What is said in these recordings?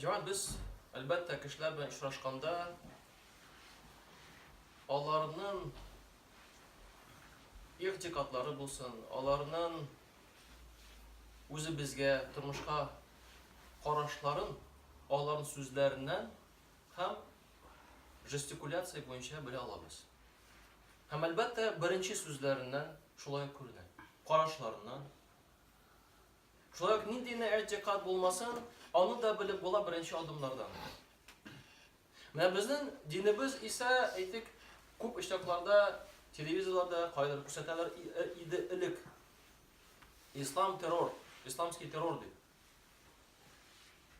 Җан, без, әлбәттә, кешеләр белән очрашканда, аларның игътикадлары булсын, аларның үзебезгә, тормышка карашларын аларның сүзләреннән һәм жестикуляция буенча белә алабыз. Һәм әлбәттә, беренче сүзләреннән шулай күренә. Карашларыннан, Шулай ук нинди генә әйтикат булмасын, аны да белеп була беренче адымнардан. Менә безнең динебез исә, әйтик, күп очракларда телевизорларда кайдыр күрсәтәләр иде элек. Ислам террор, исламский террор дип.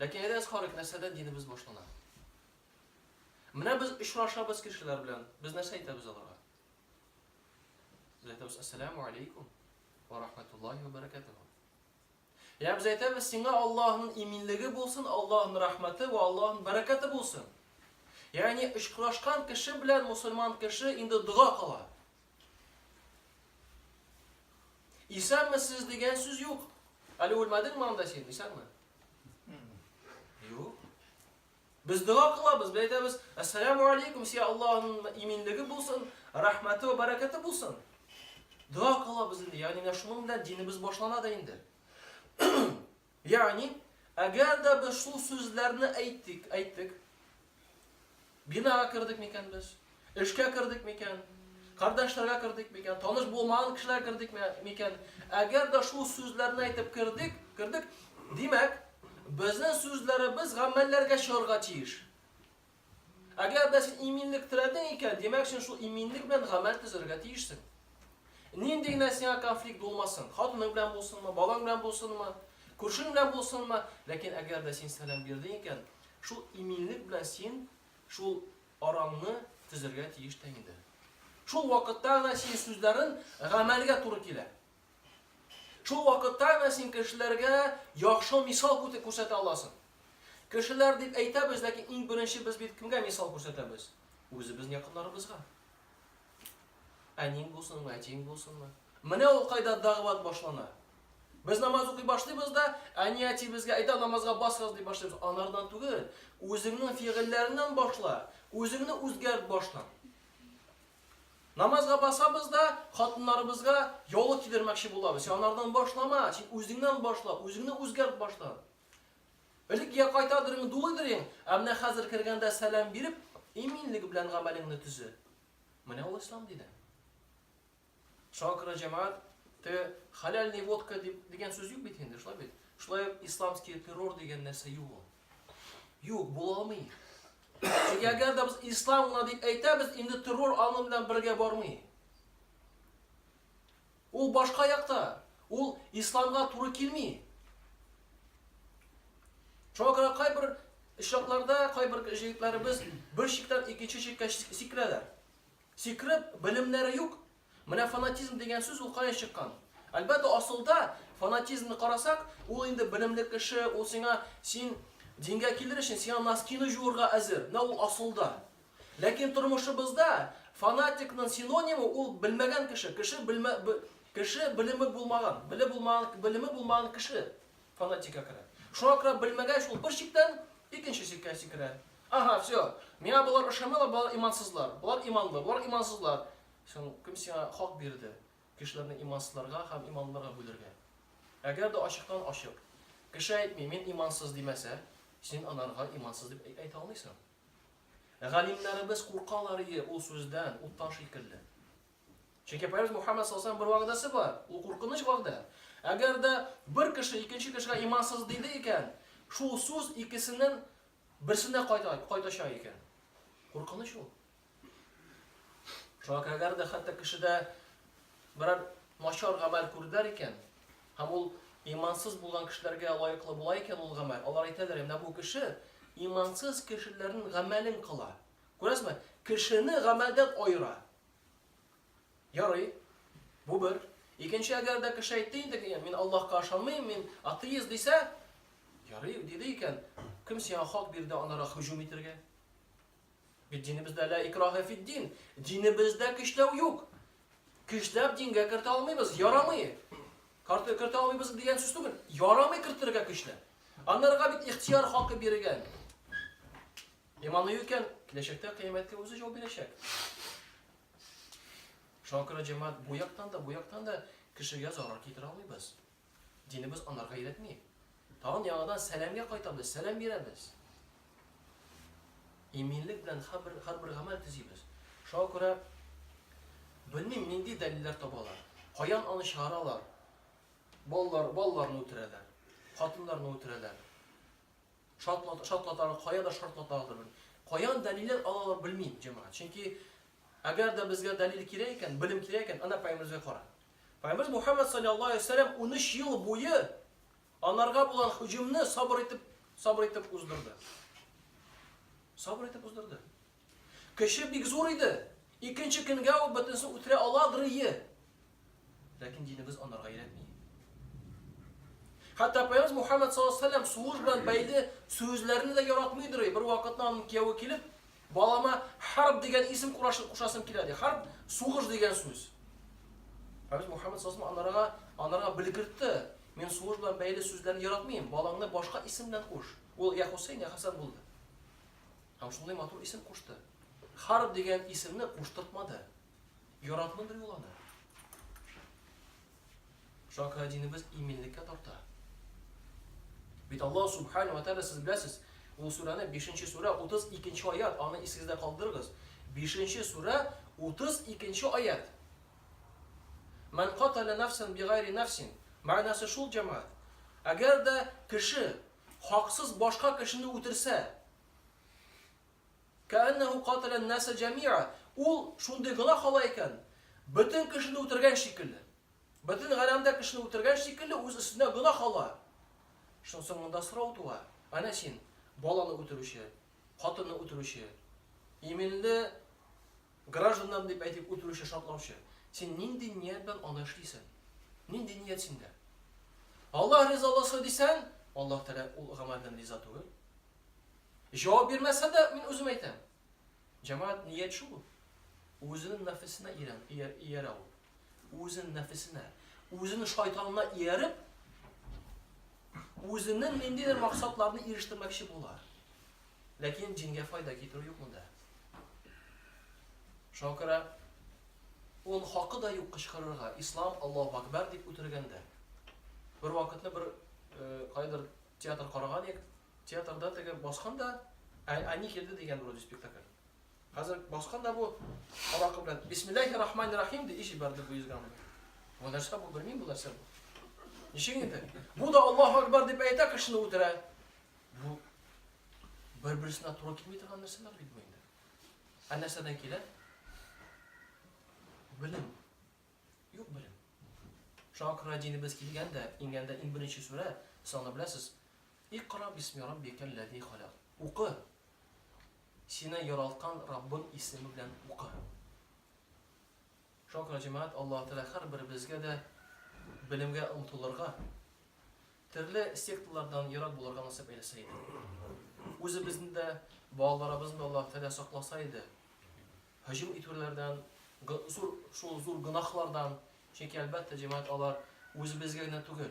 Ләкин әйдәгез карыйк, нәрсәдән динебез башлана. Менә без очрашабыз кешеләр белән, без нәрсә әйтәбез аларга? Без әйтәбез, ассаламу алейкум. Ва рахмәтуллаһи ва бәрәкәтүһү. Йә без әйтәбез сиңа Аллаһның иминлеге булсын, Аллаһның рәхмәте ва Аллаһның бәрәкәте булсын. Ягъни очрашкан кеше белән мусульман кеше инде дога кыла. Исәнме сез дигән сүз юк. Әле үлмәдеңме анда син, исәнме? Юк. Без дога кылабыз, без әйтәбез, Әссәләмү алейкум, сиңа Аллаһының иминлеге булсын, рәхмәте вә бәрәкәте булсын. Дога кылабыз инде, ягъни менә шуның белән динебез башлана да инде. Ягъни, әгәр дә без шул сүзләрне әйттек, әйттек, бинага кердек микән без? Эшкә кердек микән? Кардәшләргә кердек микән? Таныш булмаган кешеләргә кердек ме микән? Әгәр дә шул сүзләрне әйтеп кердек, кердек, димәк, безнең сүзләребез гамәлләргә чыгарга тиеш. Әгәр дә син иминлек теләдең икән, димәк, син шул иминлек белән гамәл төзергә тиешсең. Нинди генә сиңа конфликт булмасын, хатының белән булсынмы, балаң белән булсынмы, күршең белән булсынмы, ләкин әгәр дә син сәлам бирдең икән, шул иминлек белән син шул араңны төзәргә тиеш тә инде. Шул вакытта гына син сүзләрен гамәлгә туры килә. Шул вакытта гына син кешеләргә яхшы мисал күрсәтә аласың. Кешеләр дип әйтәбез, ләкин иң беренче без бит кемгә мисал күрсәтәбез? Үзебез якыннарыбызга. Әниң булсынмы, әтиең булсынмы? Менә ул кайда дәгъват башлана. Без намаз укый башлыйбыз да, әни-әтибезгә әйдә намазга басыгыз дип башлыйбыз. Анардан түгел, үзеңнең фигыльләреннән башла, үзеңне үзгәрт баштан. Намазга басабыз да, хатыннарыбызга яулык кидермәкче булабыз. Син анардан башлама, син үзеңнән башла, үзеңне үзгәрт баштан. Элек йә кайтадыр иң дулыйдыр иң, ә менә хәзер кергәндә сәлам биреп, иминлек белән гамәлеңне төзе. Менә ул ислам дине. Шуңа күрә җәмәгать те халяльный водка дип дигән сүз юк бит инде, шулай бит. Шулай ук исламский террор дигән нәрсә юк ул. Юк, була алмый. Чөнки әгәр дә без ислам гына дип әйтәбез, инде террор аның белән бергә бармый. Ул башка якта, ул исламга туры килми. Шуңа күрә кайбер очракларда кайбер җегетләребез бер чиктән икенче чиккә сикерәләр. Сикереп, белемнәре юк. Менә фанатизм дигән сүз ул каян чыккан? Әлбәттә, асылда фанатизмны карасак, ул инде белемле кеше, ул сиңа, син дингә килер өчен, сиңа носкины җуырга әзер. Менә ул асылда. Ләкин тормышыбызда фанатикның синонимы ул белмәгән кеше, кеше белмә, кеше белеме булмаган, беле булмаган, белеме булмаган кеше фанатика керә. Шуңа күрә белмәгәч ул бер чиктән икенче чиккә сикерә. Ага, все. Миңа болар ошамыйлар, болар имансызлар. Болар иманлы, болар имансызлар. Син кем сиңа хак бирде? Кешеләрне имансызларга һәм иманлыларга бүлергә. Әгәр дә ачыктан ачык кеше әйтми, мин имансыз димәсә, син анарга имансыз дип әйтә алмыйсың. Галимнәребез куркаларые ул сүздән, уттан шикелле. Чөнки Пәйгамбәр Мухаммад саллаллаһу бер вәгъдәсе бар. Ул куркыныч вәгъдә. Әгәр дә бер кеше икенче кешегә имансыз диде икән, шул сүз икесеннән берсенә кайта, кайтачак икән. Куркыныч ул. Шуңа кадәр дә хәтта кешедә берәр начар гамәл күрделәр икән, һәм ул имансыз булган кешеләргә лаеклы була икән ул гамәл, алар әйтәләр, менә бу кеше имансыз кешеләрнең гамәлен кыла. Күрәсезме? Кешене гамәлдән аера. Ярый. Бу бер. Икенче әгәр дә кеше әйтте инде, мин Аллаһка ышанмыйм, мин атеист дисә, ярый, диде икән, кем сиңа хак бирде анара һөҗүм итәргә? Бит динебездә лә икраһе фит дин. Динебездә көчләү юк. Көчләп дингә кертә алмыйбыз, ярамый. Карты кертә алмыйбыз дигән сүз түгел. Ярамый кертергә көчләп. Аннарга бит ихтияр хакы биргән. Иманы юк икән, киләчәктә кыяметкә үзе җавап бирәчәк. Шуңа күрә җәмәгать бу яктан да, бу яктан да кешегә зарар китерә алмыйбыз. Динебез анарга өйрәтми. Тагын яңадан сәламгә кайтабыз, сәлам бирәбез. Иминлек белән хәрбер, хәрбер гамәл төзибез. Шуңа күрә белмим, нинди дәлилләр табалар, каян аны чыгаралар. Балалар, балаларны үтерәләр, хатыннарны үтерәләр. Шартлат, шартлаталар, кая да шартлаталар. Каян дәлилләр алалар, белмим, җәмәгать. Чөнки әгәр дә безгә дәлил кирәк икән, белем кирәк икән, ана пәйгамбәребезгә кара. Пәйгамбәребез Мухәммәд салләллаһу галәйһи ва сәлләм унөч ел буе анарга булган һөҗүмне сабыр итеп, сабыр итеп уздырды. Сабыр итеп уздырды. Көче бик зур иде. Икенче көнгә ул бөтенесен үтерә аладырые. Ләкин динебез анарга өйрәтми. Хәтта Пәйгамбәребез Мухәммәд салләллаһу галәйһи ва сәлләм сугыш белән бәйле сүзләрне дә яратмыйдырые. Бервакытны аның кияве килеп, Балама Харб дигән исем курашы- кушасым килә, ди. Харб, сугыш дигән сүз. Хәбиб Мухаммад сасым анарга, анарга белгертте. Мин сугыш белән бәйле сүзләрне яратмыйм. Балаңны башка исем белән куш. Ул я Хусейн, я Хасан булды. Һәм шундый матур исем кушты. Харб дигән исемне куштыртмады. Яратмыйдыр ул аны. Чакыра динебез иминлеккә тарта. Бит Аллаһ субхану ва тааля сез беләсез, ул сүрәне 5-нче сүрә 32-нче аят, аны исегездә калдырыгыз. 5-нче сүрә 32-нче аят. Ман катала нафсан бигайри нафсин. Мәгънәсе шул җәмәгать. Әгәр дә кеше хаксыз башка кешене үтерсә, Кәәннәһү катәлә ән-наса җәмиа, ул шундый гөнаһ кыла икән, бөтен кешене үтергән шикелле. Бөтен галәмдә кешене үтергән шикелле үз өстенә гөнаһ ала. Шунсы монда сорау туа, әнә син, баланы үтерүче, хатынны үтерүче, иминле гражданнарны дип әйтеп үтерүче, шартлаучы, син нинди ният белән аны эшлисең? Нинди ният синдә? Аллаһ ризаласы дисәң, Аллаһ Тәгалә ул гамәлдән риза түгел. Җавап бирмәсә дә, мин үзем әйтәм. Җәмәгать, ният шул. Үзенең нәфесенә ирән, иярә ул. Үзенең нәфесенә, үзенең шайтанына ияреп, үзенең ниндидер максатларны ирештермәкче була. Ләкин җингә файда китерү юк монда. Шуңа күрә ул хакы да юк кычкырырга, ислам Аллаһу акбар дип үтергәндә. Бер вакытны бер э, кайдыр театр караган идек, Театрда теге баскан да, ә әни килде дигән вроде спектакль. Хәзер баскан да бу аракы белән Бисмиллахи рахмани рахим ди ич ибәрде бу йөзгән. Бу нәрсә бу белмим бу нәрсә бу. Ничек инде? Бу да Аллаһу акбар дип әйтә кешене үтерә. Бу бер-берсенә туры килми торган нәрсәләр бит бу инде. Ә нәрсәдән килә? Белем. Юк белем. Шуңа күрә динебез килгәндә, иңгәндә иң беренче сүрә, саны беләсез, Икъра бисми раббикәл ләзи халәк. Укы! Сине яралткан Раббың исеме белән укы. Шуңа күрә, җәмәгать, Аллаһы Тәгалә һәрберебезгә дә белемгә омтылырга, төрле секталардан ерак булырга насыйп әйләсә иде. Үзебезне дә, балаларыбызны да Аллаһы Тәгалә сакласа иде. Һөҗүм итүләрдән, зур, шул зур гөнаһлардан, чөнки, әлбәттә, җәмәгать, алар үзебезгә генә түгел.